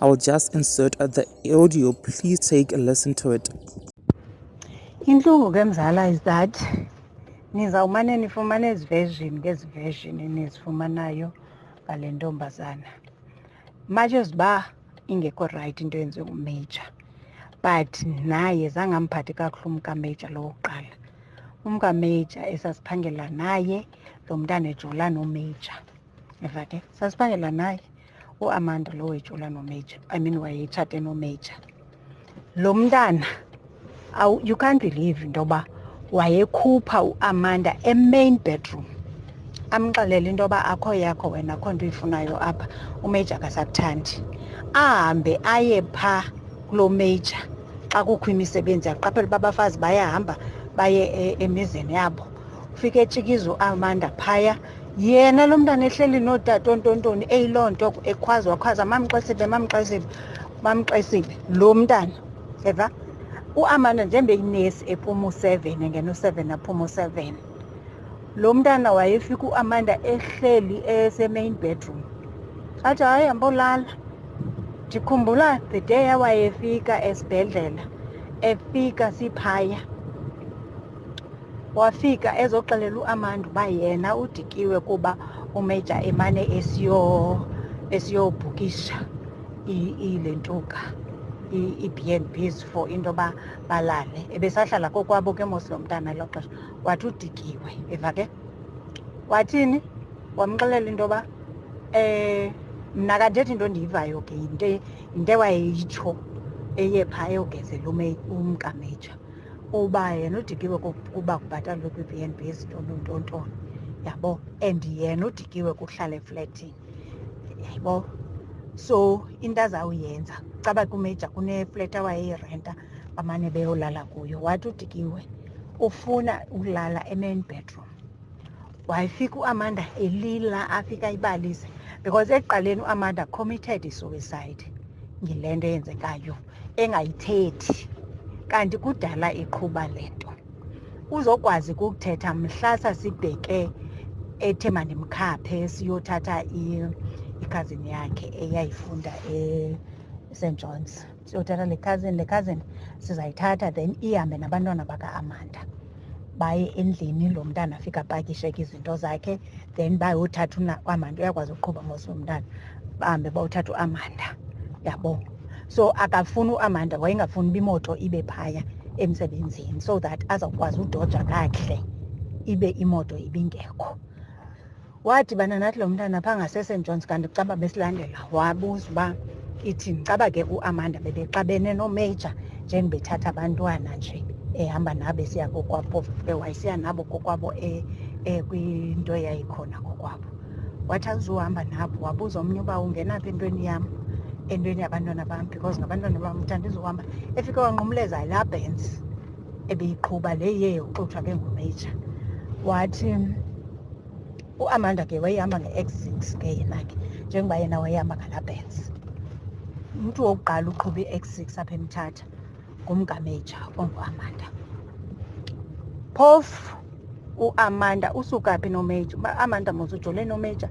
I will just insert the audio. Please take a listen to it. Intlungu ke mzala is that nizawumane nifumane ezi version ngezi version enizifumanayo ngale ntombazana much as uba ingekho rayithi into yenziwe ngumajor but naye zange amphathi kakuhle umkamajor lowo kuqala umkamajor esasiphangela naye lo mntana ejola nomajor eva ke sasiphangela naye uamanda lo wetshola nomajor i mean wayetshate nomajor lo mntana you can't believe into yoba wayekhupha uamanda emain bedroom amxelele into yoba akho yakho wena akho nto uyifunayo apha umajor akasakuthandi ahambe aye pha kulo major xa kukho imisebenzi aqaphele uba abafazi bayahamba baye e, emizini yabo ufike etshikiza uamanda phaya yena lo mntana ehleli nootata ontontoni eyiloo nto ekhwaza wakhwaza mamxesibe mamxesibe mamxesibe lo mntana eva uamanda njengoba eyinesi ephuma u-seven engena u-seven aphuma u-seven lo mntana wayefika uamanda ehleli esemain bedroom athi hayi hambolala ndikhumbula the day awayefika esibhedlela efika siphaya wafika ezoxelela uAmanda uba yena udikiwe kuba umeja emane esiyo esiyobhukisha ile ntuka ii-bnbs for into yoba balale ebesahlala kokwabo ke mos lo mntana elo xesha wathi udikiwe eva ke wathini wamxelela into yoba um mna kandithethi into endiyivayo ke yinto yinto ewayeyitsho eye phaa eyogezela umkameja uba yena udikiwe kuba kubhatalwe kwi-b n b ezintontontontoni yabo and yena udikiwe kuhlala efletini yaybo so into azawuyenza caba kumeja kunefleti awayeyirenta bamane beyolala kuyo wathi udikiwe ufuna ukulala e-main bedroom wayefika uamanda elila afika ibalise because ekuqaleni uamanda committed isuicide ngile nto eyenzekayo engayithethi kanti kudala iqhuba le nto uzokwazi kukuthetha mhla sasibheke ethe mandimkhaphe siyothatha ikhazini yakhe eyayifunda e-st johns siyothatha le cousin le cousin sizayithatha then ihambe nabantwana baka-amanda baye endlini lo mntana afike apakishe ke izinto zakhe then bayothatha uamanda uyakwazi ukuqhuba mos umntana bahambe bayothatha uamanda yabo so akafuni uamanda wayengafuni uba imoto ibe phaya emsebenzini so that azawukwazi udoja kakuhle ibe imoto ibingekho wadibana nathi lo mntana phaa ngaseSt Johns kanti kucaba besilandela wabuza uba ithini caba ke uamanda bebexabene nomajor njengibethatha abantwana nje ehamba nabo esiya kokwabo wayesiya nabo kokwabo e, e, kwinto eyayikhona kokwabo wathi azuhamba nabo wabuza omnye uba ungenaphi entweni yam entweni yabantwana bam because ngabantwana bam uthanda izohamba efike wanqumleza yilabhensi ebeyiqhuba le ye uxutshwa ke ngumeyija wathi uamanda ke wayehamba nge-x six ke yena ke njengoba yena wayehamba ngalabens umntu wokuqala uqhuba i-x six apha emthatha ngumngameja onguamanda phofu uamanda usuka phi nomeja uba amanda mos ujole nomeja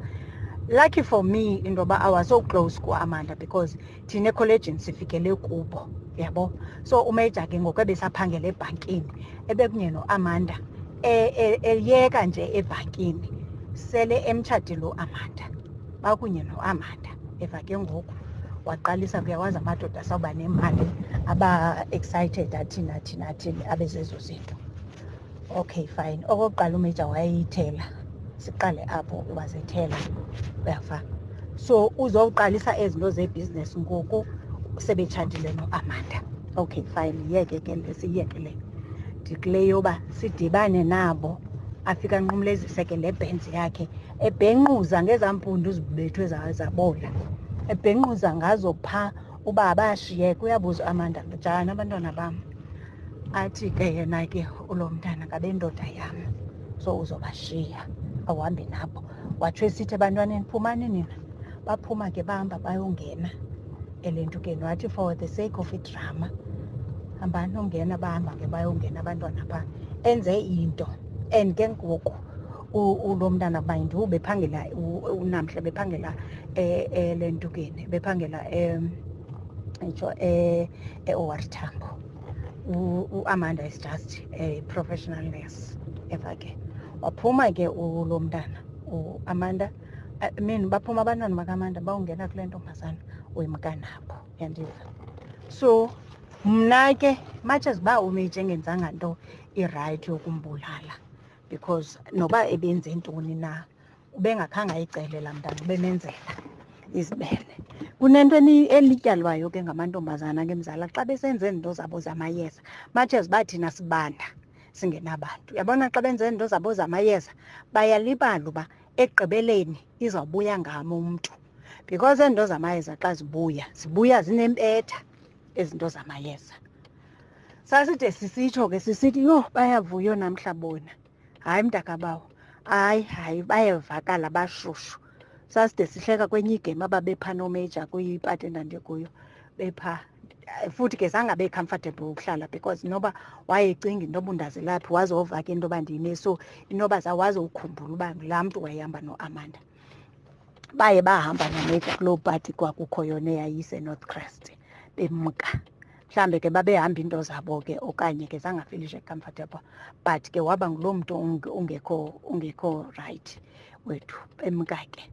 lucky for me into yoba i was so close kuamanda because thina ekholejini sifikele kubo yabo so umeja ke ngoku ebesaphangela ebhankini ebekunye noamanda e, e, eyeka nje ebhankini sele emtshatile uamanda bakunye noamanda eva ke ngoku waqalisa kuyawazi amadoda sawuba nemali aba-excited athini athini athini abezezo zinto Okay, fine. Okokuqala umeja wayeyithela. Siqale apho uba zethela. Uyafa. So uzowuqalisa ezi nto zebhizinesi ngoku sebetshatile noAmanda. Okay, fine. Yeke ke le siyeke le. Ndikule yoba sidibane nabo afika anqumlezise ke le bhenzi yakhe ebhenquza ngezaa mpundu zibethwe zabola ebhenquza ngazo phaa uba bayashiyeka uyabuza amanda njani abantwana bam athi ke yena ke ulo mntana ngabendoda yam so uzobashiya awuhambi nabo watsho esithi ebantwaneni phumani nina baphuma ke bahamba bayongena elentukeni wathi for the sake of idrama hambani ongena bahamba ke bayongena abantwana phaa enze into and ke ngoku ulo mntana kuba yinto ubephangela unamhla bephangela eh, eh, le ntukeni bephangela itsho e-owar tambo uamanda is just a professional nurse ever ke waphuma ke ulo mntana uamanda I mean baphuma abantwana bakamanda bawungena kule ntombazana uyimkanabo yandiva so mna ke much as uba umeje engenzanga nto irayithi yokumbulala because noba ebenze ntoni na ubengakhange ayicelela mntana ubemenzela izibele kunento elityalwayo ke ngamantombazana ke mzala xa besenze izinto zabo zamayeza much as bathina sibanda singenabantu uyabona xa benze izinto zabo zamayeza bayalibala uba ekugqibeleni izawubuya ngami umntu because izinto zamayeza xa zibuya zibuya zinempetha izinto zamayeza saside sisitsho ke sisithi yho bayavuyo namhla bona hayi mntakabawo hayi hayi bayevakala bashushu saside sihleka kwenye igame ababepha nomeja kwipati endandikuyo bepha futhi ke zange abe comfortable ukuhlala because noba wayecinga into yoba undazilaphi waze wovaka into yoba ndime so inoba zawaze ukhumbula uba ngulaa mntu wayehamba noamanda baye bahamba nomeja kuloo pati kwakukho yona eyayisenorth crest bemka mhlawumbe ke babehamba iinto zabo ke okanye ke zangafilishe comfortable but ke waba nguloo mntu ungekho ungekho right wethu emka ke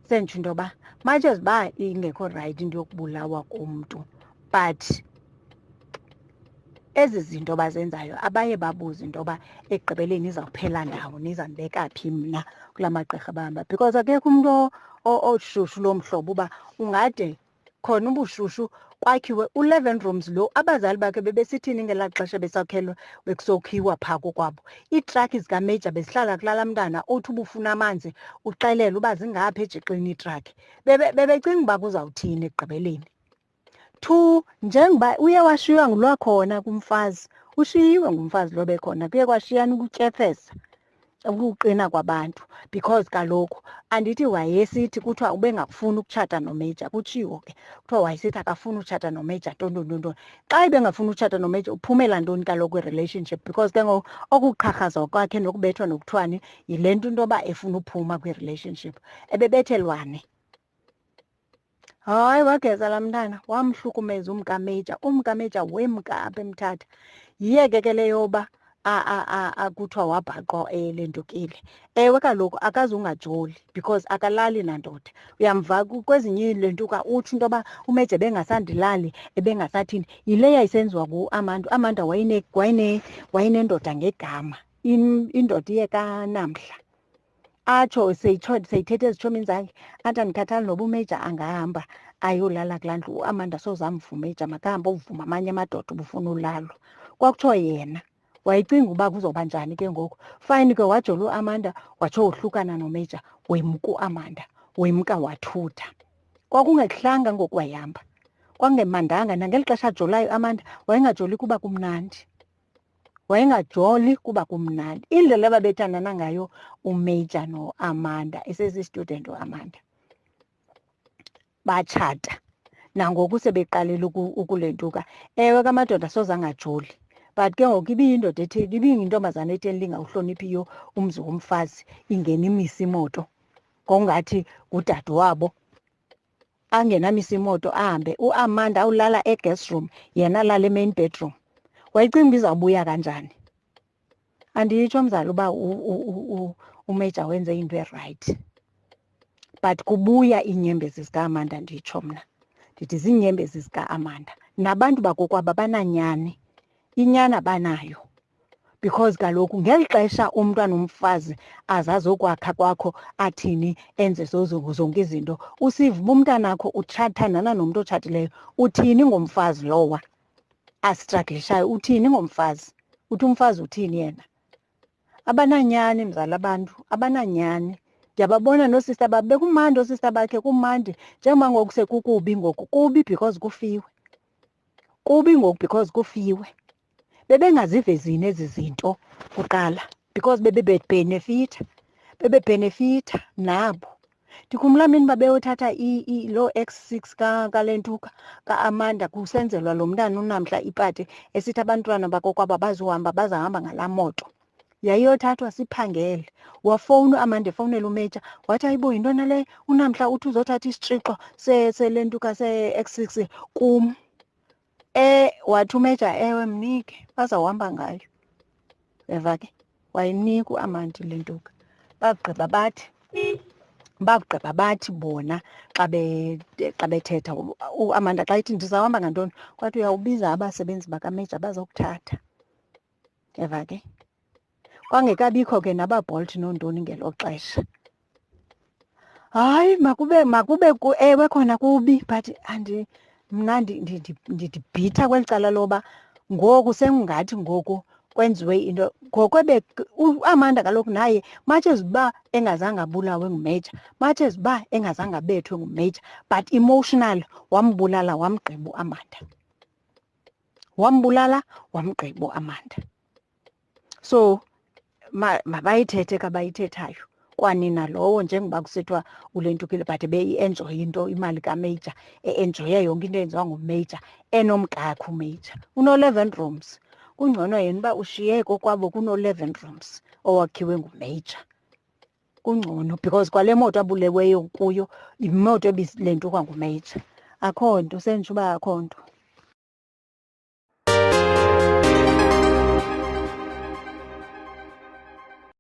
sentsho into yoba much as uba ingekho right into yokubulawa komntu but ezi zinto bazenzayo abaye babuze into yoba ekugqibeleni izawuphela ndawo nizandibeka phi mna kula magqirha bahamba because akekho umntu oshushu loo mhlobo uba ungade khona ubushushu kwakhiwe u-leven rooms lo abazali bakhe bebesithini ngelaa xesha besakhelwa bekusokhiwa phaa kokwabo iitrakhi zikameja bezihlala kulala mntana othi ubufuna amanzi uxelele uba zingaphi ejixini iitrakhi bebecinga uba kuzawuthini ekugqibeleni Two, njengoba uye washiywa ngulwakhona kumfazi ushiyiwe ngumfazi lobe khona kuye kwashiyana ukutyefeza ukuqina kwabantu because kaloku andithi wayesithi kuthiwa ubengafuni ukutshata nomeja kutshiwo ke kuthiwa wayesithi akafuni utshata nomeja ntontontontoni xa ibengafuni utshata nomeja uphumela ntoni kaloku i-relationship because ke ngoku okuqharhaza kwakhe nokubethwa nokuthiwani yile nto into yoba efuna uphuma kwi-relationship ebebethelwane Hayi, wageza laa mntana wamhlukumeza umkameja. Umkameja wemka apha emthatha. Yiyeke ke le yoba akuthiwa wabhaqwa eh, le ndukile. Ewe kaloku akaze ungajoli because akalali nandoda. Uyamva kwezinye iilentuka utsho into yoba umeja ebengasandilali, ebengasathini. Yile yayisenziwa nguAmanda. UAmanda wayene wayene wayenendoda ngegama, indoda iye kanamhla. atsho seyithetha ezitshomini zakhe athi andikhathali noba umeja angahamba ayolala kulaa ndlu uamanda soze amvumeja makahambe ovuma amanye amadoda ubufuna ulalo kwakutsho yena wayicinga uba kuzoba njani ke ngoku fayini ke wajola uamanda watsho wohlukana nomeja wemka uamanda wemka wathutha kwakungehlanga ngoku wayihamba kwangemandanga nangeli xesha ajolayo amanda wayengajoli kuba kumnandi wayengajoli kuba kumnandi indlela ababethandana ngayo umajor noamanda esesistudent uamanda batshata nangoku sebeqalile ukulentuka ewe kamadoda soze angajoli but ke ngoku ibiyindoda ethi ibiyintombazana ethi elingawuhloniphiyo umzi womfazi ingena imisa imoto ngokungathi ngudade wabo angenamisa imoto ahambe uamanda awulala eguest room yena alala emain bedroom wayicinga uba izawubuya kanjani anditsho mzali uba umeja wenze into erayithi but kubuya iinyembezi zikaamanda nditsho mna ndithi ziinyembezi zikaamanda nabantu bakokwabo abananyani inyani abanayo because kaloku ngeli xesha umntu anomfazi azazokwakha kwakho athini enze zonke izinto usiva uba umntanakho utshathandana nomntu otshatileyo uthini ngomfazi lowa asitraglishayo uthini ngomfazi uthi umfazi uthini yena abananyani mzala abantu abananyani ndiyababona noosista babo bekumandi oosista bakhe kumandi njengoba ngoku sekukubi ngoku kubi because kufiwe kubi ngoku because kufiwe bebengazivezini ezi zinto kuqala because bebebebhenefitha bebebhenefitha nabo ndikhumbula mini uba beyothatha loo x six kalentuka ka-amanda kusenzelwa lo mntana unamhla ipati esithi abantwana bakokwaba bazohamba bazahamba ngalaa moto yayiyothathwa siphangele wafowuna uamanda efowunela umeja wathi ayibo yintona le unamhla uthi uzothatha isitrixo selentuka se-x six kum e wathi umeja ewe mnike bazawuhamba ngayo eva ke wayinika uamandi le ntoka bagqiba bathi bagqiba bathi bona xa xa bethetha uamanda xa ithi ndizawuhamba ngantoni kwathi uyawubiza abasebenzi bakameja bazokuthatha Yeva ke? Kwangekabikho ke nabaBolt nontoni ngelo xesha. Hayi makube makube ewe khona kubi but andi mna ndidibhitha kweli cala loba ngoku sengathi ngoku kwenziwe into ngoko ebe uAmanda kaloku naye much as uba engazange abulawe nguMajor much as uba engazange abethwe nguMajor but emotional wambulala wamgqiba uAmanda wambulala wamgqiba uAmanda so mabayithethe ma kabayithethayo kwanina lowo njengoba kusithiwa ulentukile but beyi-enjoye into imali kamajor e-enjoye yonke into eyenziwa ngumajor enomkakhe umajor uno-eleven rooms kungcono yena uba ushiye kokwabo kuno-eleven rooms owakhiwe ngumajor kungcono because kwale moto abuleweyo kuyo yimoto ebilentukwa ngumeyitsha akho nto sentsho uba akho nto